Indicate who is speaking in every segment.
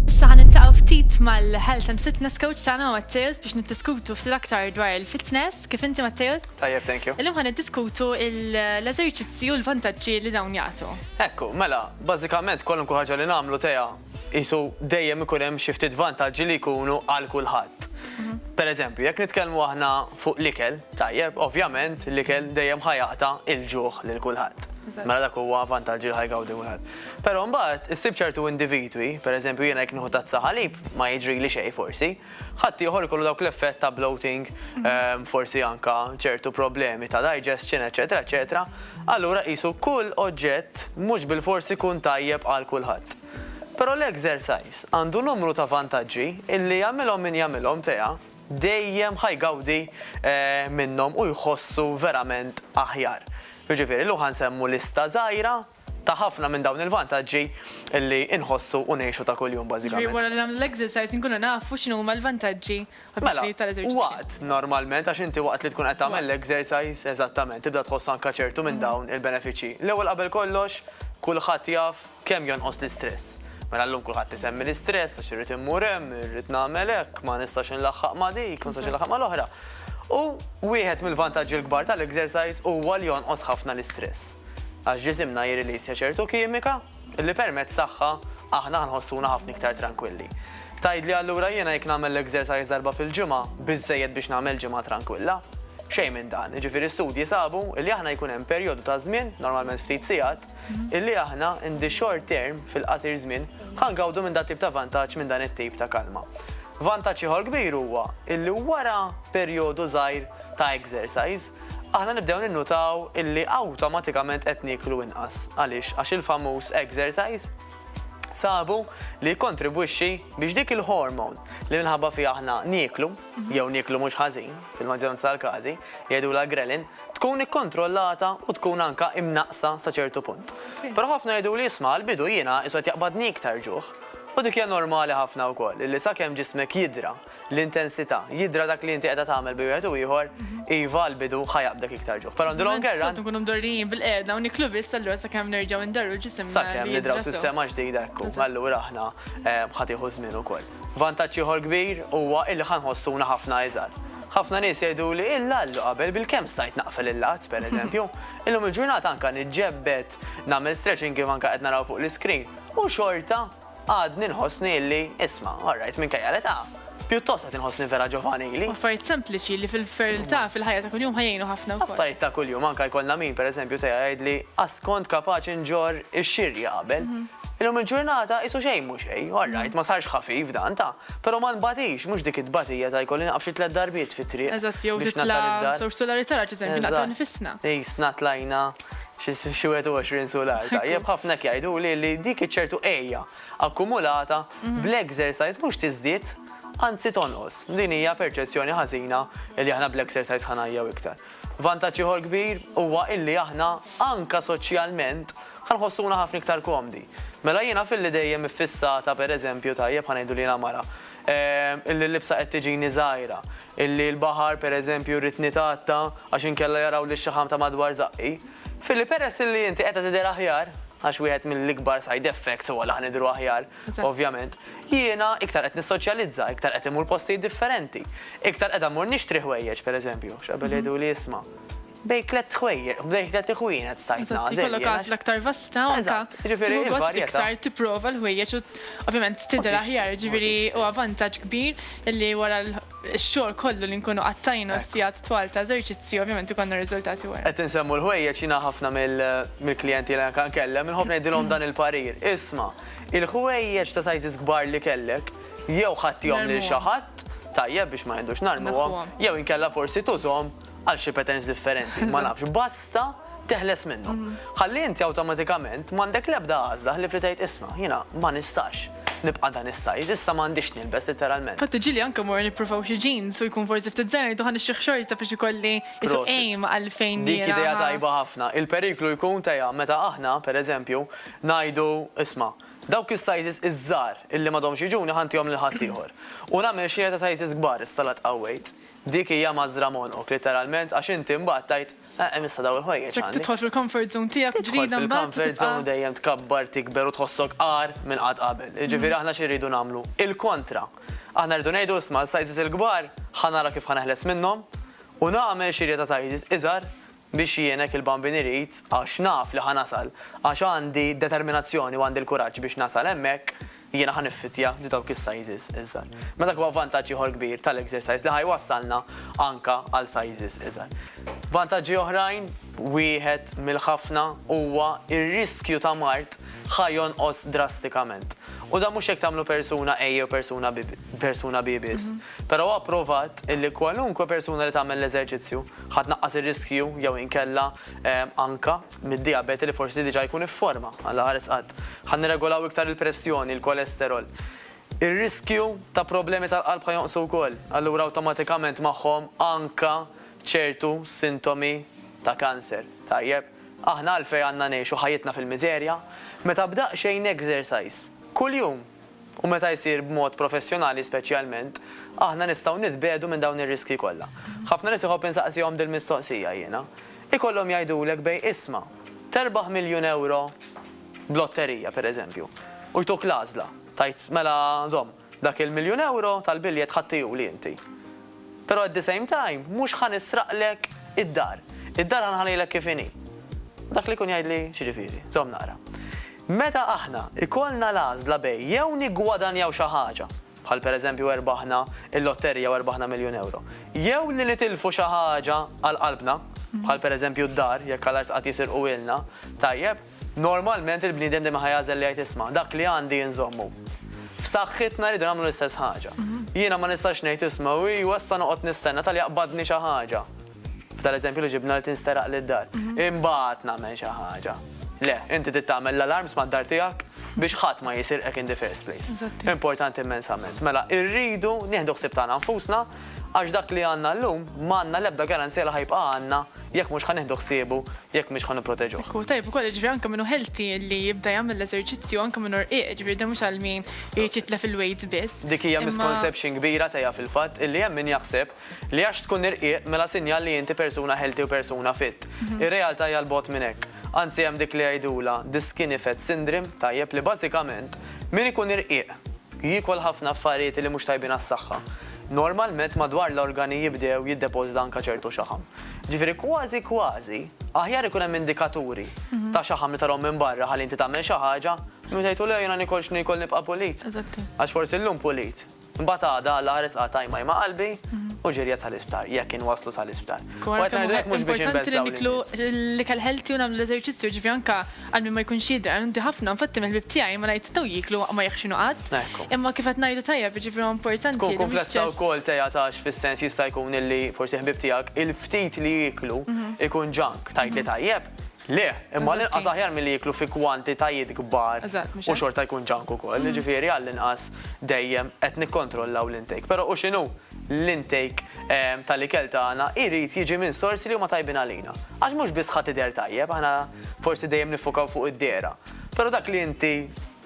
Speaker 1: Issa ħan intaqaw ftit mal-health and fitness coach tagħna Matteus biex niddiskutu ftit aktar dwar il-fitness. Kif inti Matteus? Tajjeb, thank you. Illum ħan
Speaker 2: niddiskutu
Speaker 1: l-eżerċizzi u l-vantaġġi li dawn jagħtu. Ekku, mela,
Speaker 2: bażikament kwalunkwe ħaġa li nagħmlu teja qisu dejjem ikun hemm xi ftit vantaġġi li jkunu għal kulħadd. Per eżempju, jekk nitkellmu aħna fuq l-ikel, tajjeb, ovvjament l-ikel dejjem ħajaqta il-ġuħ lil kulħadd. Mela dak huwa vantaġġi li ħajgawdi wieħed. Però mbagħad issib ċertu individwi, per eżempju jiena jekk nieħu tazza ħalib ma jiġrili xejn forsi. Ħadd ieħor ikollu dawk l-effett ta' bloating, forsi anke ċertu problemi ta' digestion, eċċetera eċċetera, allura qisu kull oġġett mhux bilfors ikun tajjeb għal kulħadd. Però l-exercise għandu numru ta' vantaġġi illi jagħmilhom min jagħmilhom teha dejjem ħa jgawdi minnhom u jħossu verament aħjar. Jiġifieri llum ħa nsemmu lista żgħira ta' ħafna minn dawn il-vantaġġi li nħossu u ngħixu ta' kuljum bażikament. Ġifieri wara li nagħmlu l-exercise
Speaker 1: inkunu nafu x'inhuma l-vantaġġi u Mela, l-ħsijiet tal-eżerċizzju. waqt normalment
Speaker 2: għax inti waqt li tkun qed tagħmel l-exercise eżattament tibda tħoss anke ċertu minn dawn il-benefiċċji. L-ewwel qabel kollox, kulħadd jaf kemm jonqos l-istress. Mela llum kulħadd isemmi l-istress għax irrid immur hemm, irrid nagħmel hekk, ma nistax inlaħħaq ma' dik, ma nistax inlaħħaq mal-oħra. U wieħed mill-vantaġġi l-kbar tal-exercise huwa li jonqos ħafna l-istress. għax ġisimna jirrilisja ċertu kimika li permezz tagħha aħna nħossuna ħafna iktar trankwilli. Tgħidli allura jiena jekk nagħmel l-exercise darba fil-ġimgħa biżżejjed biex nagħmel ġimgħa trankwilla? Xejn minn dan, jiġifieri studji sabu li aħna jkun hemm perjodu ta' żmien, normalment ftit sigħat, illi aħna in the short term fil-qasir żmien ħangawdu minn dat tip ta' vantaġġ minn dan it-tip ta' kalma. Vantaġġ ieħor kbir huwa illi wara perjodu żgħir ta' exercise, aħna nibdew ninnutaw illi awtomatikament qed nieklu inqas. Għaliex? Għax il-famuż exercise sabu li jikkontribwixxi biex dik il-hormone li minħabba fiha aħna nieklu, mhm. jew nieklu mhux ħażin, fil-maġġoranza tal-każi, jgħidu la grelin, tkun ikkontrollata u tkun anka imnaqsa sa ċertu punt. Però ħafna jgħidu li jisma' l-bidu jiena isod jaqbadni iktar ġuħ. U dik hija normali ħafna wkoll, li sakemm ġismek jidra L-intensità. Jidhra dak li inti qiegħda tagħmel bejn wieħed u ieħor, iva, għall-bidu ħa jaqbdek iktar ġuħ. Però on the longer run. Tant inkunu mdorrijin bil-qiegħda
Speaker 1: u niklu biss allura sakemm nerġgħu ndarru l-ġisem li jidhra sew. Sakemm nidraw sistema
Speaker 2: ġdida hekk hu. Allura aħna ħa tieħu żmien ukoll. Vantaġġ ieħor kbir huwa illi ħa nħossuna ħafna iżgħar. Ħafna nies jgħiduli, Illa llu qabel bilkemm stajt naqfel il-lat, pereżempju. Illum il-ġurnata anke niġġebbed, nagħmel stretching kif anke qed naraw fuq l-iscreen, u xorta. Għadni nħossni illi, isma, orrajt minkejja l-età, pjuttost qed inħossni vera ġovanili. Affarijiet sempliċi li
Speaker 1: fil-fertilità fil-ħajja ta' kuljum ħajjinu ħafna wkoll. Affarijiet ta' kuljum anke jkollna
Speaker 2: min pereżempju teja jgħidli qass kont kapaċi nġorr ix-xirja qabel. Illum il-ġurnata qisu xejn mhu xejn, orrajt ma sarx ħafif dan ta', però ma nbatix, mhux dik it-tbatija ta' jkolli nieqaf xi tliet darbiet fit-triq biex nasal id-dar. Eżatt, jew titla'
Speaker 1: żewġ sulari tard, eżempju, naqtgħu nifisna. Qisna tlajna.
Speaker 2: xi 21 sular. Tajjeb ħafna hekk jgħiduli li dik iċ-ċertu għejja akkumulata mhm. bl-exercise mhux tiżdied anzi tonqos. Din hija perċezzjoni ħażina li aħna bl-exercise ħanajjaw iktar. Vantaġġ ieħor kbir huwa illi aħna anka soċjalment ħanħossuna ħafna iktar komdi. Mela jiena fil-li dejjem iffissata pereżempju tajjeb ħanejdu li mara illi l-libsa qed tiġini żgħira, illi l-baħar, per eżempju, rrid nitgħatta għax inkella jaraw lix-xaħam ta' madwar żaqqi. Fili, peress illi inti qiegħda tidher aħjar, għax wieħed mill-ikbar side effects huwa li aħna nidhru aħjar, ovvjament, jiena iktar qed nissoċjalizza, iktar qed immur postijiet differenti, iktar qiegħda mmur nixtri ħwejjeġ, per eżempju, x'qabel jgħiduli isma', Bejn tlett ħwejjeq, bejn tlett iħwienet stajt nagħżel. Eżatt, ikollok għażla aktar vasta
Speaker 1: u anke tieħu gost
Speaker 2: iktar tipprova
Speaker 1: l-ħwejjeġ u ovvjament tidher aħjar, ġifieri huwa vantaġġ kbir illi wara x-xogħol kollu li nkunu qattajna s-sigħat twal ta' eżerċizzju ovvjament ikollna r-riżultati wara. Qed insemmu l-ħwejjeġ jiena
Speaker 2: ħafna mill-klijenti li anke nkellem inħobb ngħidilhom dan il-parir, isma', il-ħwejjeġ ta' sizes kbar li kellek jew ħadthihom lil xi ħadd, tajjeb biex ma ngħidux narmuhom, jew inkella forsi tużhom għal xi patterns differenti, ma nafx, basta teħles minnhom. Mhm. Ħalli inti awtomatikament m'għandek l-ebda għażla ħlif li tgħid isma' jiena ma nistax nibqa' dan is-sajż, issa m'għandix nilbes literalment. Fatt ġili anke mor
Speaker 1: nippruvaw xi jeans u jkun forsi ftit żgħir duħan ix-xieħ xorta biex ikolli isu aim għal fejn. Dik idea tajba
Speaker 2: ħafna. Il-periklu jkun teja meta aħna, pereżempju, ngħidu isma' dawk is-sizes iż-żgħar illi m'għadhomx jiġuni ħantihom lil ħaddieħor. U nagħmel xi ta' sizes kbar is-salat qawwejt. Dik hija mażżra monoc, litteralment, għax inti mbagħad tgħid, Eħ, issa dawn il-ħwejjeġ għandi. Jekk tidħol fil-comfort
Speaker 1: zone
Speaker 2: tiegħek
Speaker 1: ġdida mbagħad tibqa'. Tidħol fil-comfort
Speaker 2: zone
Speaker 1: dejjem
Speaker 2: tkabbar, tikber u tħossok agħar minn qatt qabel. Jiġifieri aħna xi rridu nagħmlu? Il-kontra. Aħna rridu ngħidu, isma' l-sizes il-kbar ħa nara kif ħa neħles minnhom u nagħmel xirja ta' sizes iżgħar Biex jgħinek il-Bambin irid, għax naf li ħa nasal, għax għandi d-determinazzjoni u għandi l-kuraġġ biex nasal hemmhekk, jiena ħa niffittja di dawk is-sizes iżgħar. Ma dak huwa vantaġġ ieħor kbir tal-exercise li ħa jwassalna anka għal sizes iżgħar. Vantaġġi oħrajn, wieħed mill-ħafna huwa r-riskju ta' mard ħa jonqos drastikament. U dan mhux jekk tagħmlu persuna A jew persuna B biss, però huwa pprovat illi kwalunkwe persuna li tagħmel l-eżerċizzju, Ħa tnaqqas ir-riskju jew inkella anke mid-dijabete li forsi diġà jkun ifforma. Alla ħares qatt. Ħa nirregolaw iktar il-pressjoni, il-kolesterol. Ir-riskju ta' problemi tal-qalb ħa jonqsu wkoll. Allura awtomatikament magħhom anke ċertu sintomi ta' kanser. Tajjeb, aħna għalfejn għandna ngħixu ħajjitna fil-miżerja? Meta b'daqsxejn exercise, kuljum, u meta jsir b'mod professjonali speċjalment, aħna nistgħu nitbiegħdu minn dawn ir-riskji kollha. Ħafna nies iħobb insaqsihom dil-mistoqsija jiena. Ikollhom jgħidulek bejn isma', terbaħ miljun ewro b'lotterija, pereżempju, u jtuk l-għażla, tgħid mela żomm, dak il-miljun ewro tal-biljett ħadd tiegħu li inti. Però at the same time mhux ħa nisraqlek id-dar. Id-dar ħa nħallilek kif inhi. Dak li jkun jgħidli x'jiġifieri? Żomm naqra. Meta aħna jkollna l-għażla bejn jew niggwadanjaw xi ħaġa, bħal pereżempju erbaħna l-lotterija u erbaħna miljun ewro, jew li nitilfu xi ħaġa għal qalbna, bħal pereżempju d-dar, jekk Alla jistgħu qatt jisirquhielna, tajjeb? Normalment il-bniedem dejjem ħa jagħżel li jgħid isma', dak li għandi inżommu. F'saħħitna rridu nagħmlu l-istess ħaġa. Jiena ma nistax ngħid isma' u ejwa issa noqgħod nistenna talli jaqbadni xi ħaġa, f'dal-eżempju li ġibna li tinsteraq li d-dar, imbagħad nagħmel xi ħaġa. Le, inti trid tagħmel l-alarms mad-dar tiegħek biex ħadd ma jisirqek in the first place. Importanti immensament. Mela, irridu nieħdu ħsieb tagħna nfusna, Għax dak li għandna llum, ma għandna l-ebda garanzija li ħa jibqa' għandna jekk mhux ħa nieħdu ħsiebu, jekk mhix ħa nipproteġuh. Hu tajjeb ukoll jiġifieri anke
Speaker 1: min hu healthy li jibda jagħmel l-eżerċizzju anke min hu rqiq, jiġifieri dan mhux għal min irid jitlef il-weight biss. Dik hija misconception
Speaker 2: kbira tiegħi fil-fatt illi hemm min jaħseb li għax tkun irqiq mela sinjal li inti persuna healthy u persuna fit. Ir-realtà hija 'l bogħod minn hekk. Anzi hemm dik li jgħidulha the skinny fat syndrome, tajjeb li bażikament min ikun irqiq Jiekol ħafna affarijiet li mhux tajbin għas-saħħa. Normalment madwar l-organi jibdew jiddepożita anke ċertu xaħam. Ġifieri kważi kważi aħjar ikun hemm indikaturi ta' xaħam li tarahom minn barra ħalli inti tagħmel xi ħaġa milli tgħid u le jiena niekol x'niekol nibqa' pulit. Għax forsi llum pulit, imbagħad għada Alla ħares qatt għajma jma' qalbi u ġirjat sal-isptar, jekk inwasslu sal-isptar. U qed ngħidu hekk mhux biex
Speaker 1: inbeżżgħu lin-nies. Importanti li niklu l-ikel healthy u nagħmlu l-eżerċizzju, ġifieri anke Għal min ma jkunx jidher, inti ħafna, infatti mill-ħbieb tiegħi ma ngħid taw jieklu waqt ma jeħxinu qatt. Imma kif qed ngħidu tajjeb, jiġifieri huwa importanti. Tkun kumplessa wkoll
Speaker 2: Tea tax fis-sens jista' jkun illi forsi ħbieb tiegħek il-ftit li jieklu jkun junk. Tgħidli tajjeb? Le, imma l-inqas aħjar milli jieklu fi kwantitajiet kbar u xorta jkun junk ukoll. Jiġifieri għall-inqas dejjem qed nikkontrollaw l-intake. Però u x'inhu? l-intake tal-ikel tagħna jrid jiġi minn sorsi li huma tajbin għalina. Għax mhux biss ħa tidher tajjeb, aħna forsi dejjem niffukaw fuq id-dehra, però dak li inti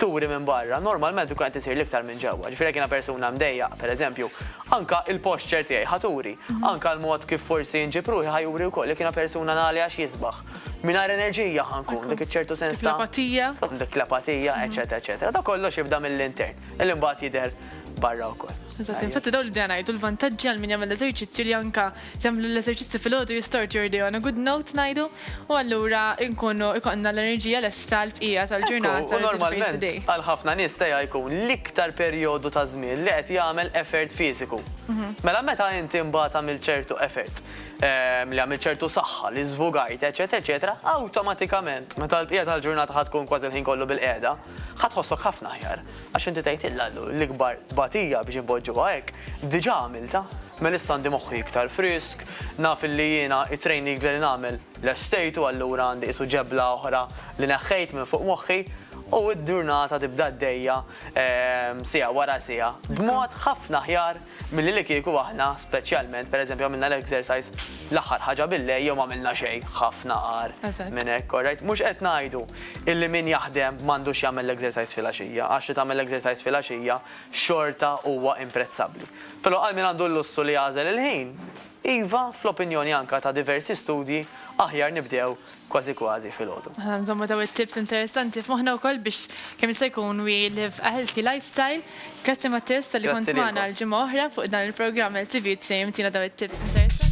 Speaker 2: turi minn barra normalment ikun qed isir l-iktar minn ġewwa. Ġifieri jekk jiena persuna mdejjaq, pereżempju, anke l-posture tiegħi ħa turi, anke l-mod kif forsi nġib ruħi ħa juri wkoll. Jekk jiena persuna nagħli għax jisbaħ, mingħajr enerġija ħa nkun, dik iċ-ċertu sens ta'. Dik l-apatija. Dik l-apatija, eċċetera, eċċetera. Dak kollox jibda mill-intern, li mbagħad jidher barra wkoll. Eżatt, infatti daw li bdejna
Speaker 1: ngħidu l-vantaġġi għal min jagħmel l-eżerċizzju li anka jagħmlu l-eżerċizzju fil-ħodu jistort your day on a good note ngħidu u allura nkunu ikollna l-enerġija lesta l-bqija tal-ġurnata. U normalment
Speaker 2: għal ħafna nies tejha jkun l-iktar perjodu ta' żmien li qed jagħmel effort fiżiku. Mhm. Mela meta inti mbagħad għamil ċertu effort, ehm, li għamil ċertu saħħa, li żvugajt, eċetera, eċetera, awtomatikament meta l-bqija tal-ġurnata ħad tkun kważi l-ħin kollu bil-qiegħda, Ħa tħossok ħafna aħjar għax inti tgħidilha l-ikbar tbatija biex inpoġġuha hekk diġà għamiltha. Melissa għandi moħħi iktar frisk, naf illi jiena it-training li nagħmel lestejtu allura għandi qisu ġebla oħra li neħħejt minn fuq moħħi u d-ġurnata tibda għaddejja siegħa wara siegħa b'mod ħafna aħjar Milli li kieku aħna speċjalment pereżempju għamilna l-exercise l-aħħar ħaġa bil-lejl jew ma għamilna xejn, ħafna agħar minn hekk, alright? Mhux qed ngħidu illi min jaħdem m'għandux jagħmel l-exercise filgħaxija, għax li tagħmel l-exercise filgħaxija xorta huwa imprezzabbli. Però għal min għandu l-lussu li jagħżel il-ħin, Iva, fl-opinjoni anka ta' diversi studji, aħjar nibdew kważi kważi filgħodu. Ħa nżommu dawn it-tips
Speaker 1: interessanti f'moħħna wkoll biex kemm jista' jkun we live a healthy lifestyle. Grazzi Mattias talli kont magħna għal ġimgħa oħra fuq dan il-programm LTV u tfehhimtina dawn it-tips interessanti.